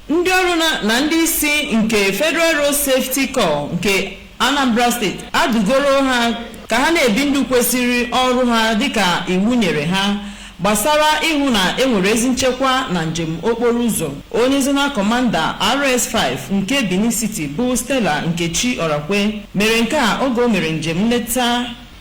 Ndị ọrụ na ndị isi nke Federal Road Safety Corps nke Anambra Steeti adụgoro ha ka ha na-ebi ndụ kwesiri ọrụ ha dịka iwu nyere ha gbasara ịhụ na e nwere ezi nchekwa na njem okporo ụzọ. Onye Zonal Commander RS five nke Benin City bụ Stella Nkechi Orakwe mere nke a oge o mere njem nleta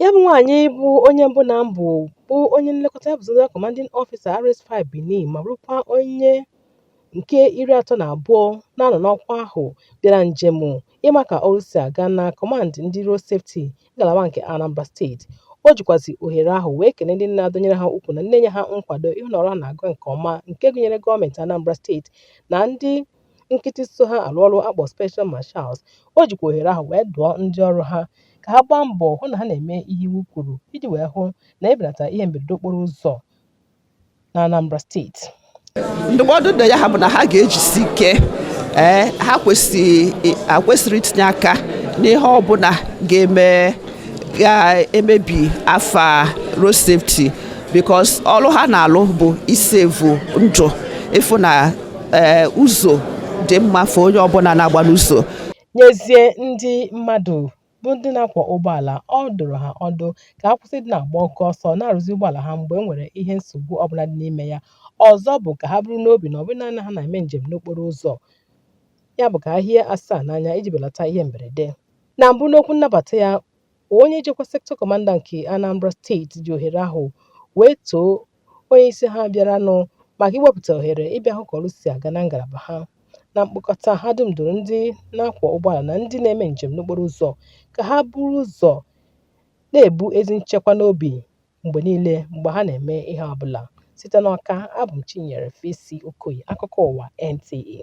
Ya bụ nwaanyị bụ onye mbụ na mbụ bụ onye nlekọta ya bụ Zonal Commanding Officer RS5 Benin ma bụrụkwa onye nke iri atọ na abụọ na-anọ n'ọkwa ahụ bịara njem ịma ka ọrụ si aga na Command ndị Road Safety ngalaba nke Anambra Steeti. O jikwazi ohere ahụ wee kelee ndị na-adọnyere ha ukwu na na-enye ha nkwado ịhụ na ọrụ ha na-aga nke ọma nke gụnyere gọọmentị Anambra Steeti na ndị nkịtị so ha alụ ọrụ a kpọ Special Marshals, o jikwa ohere ahụ wee dụọ ndị ọrụ ha ka ha gbaa mbọ hụ na ha na-eme ihe iwu kwuru iji wee hụ na e belata ihe mberede okporo ụzọ na Anambra steeti. Ndụmọdụ ndị ya ha bụ na ha ga-ejisi ike ee ha ekwesịghị itinye aka n'ihe ọbụla ga-eme ga-emebi afa road safety because ọrụ ha na-alụ bụ ị save ndụ ịfụ na ee eh, ụzọ dị mma for onye ọbụla na-agba n'ụzọ nyezie ndị mmadụ bụ ndị na-akwọ ụgbọala ọ dụrụ ha ọdụ ka ha kwụsị ịdị na-agba oke ọsọ na-arụzi ụgbọala ha mgbe e nwere ihe nsogbu ọbụla dị n'ime ya ọzọ bụ ka ha buru n'obi na ọ bụrụ na ha na-eme njem n'okporo ụzọ ya bụ ka ha hie asaa n'anya iji belata ihe mberede na mbụ n'okwu nnabata ya onye njikwa Sector Commander nke Anambra steeti ji ohere ahụ wee too onye isi ha bịaranụ maka iwepụta ohere ịbịa hụ ka ọrụ si aga na ngalaba ha. Na mkpokọta, ha dum dụrụ ndị na-akwọ ụgbọala na ndị na-eme njem n'okporo ụzọ ka ha buru ụzọ na-ebu ezi nchekwa n'obi mgbe niile mgbe ha na-eme ihe ọ bụla. Site n'Awka, abụ m Chinyere Fesi Okoye, akụkọ ụwa NTA.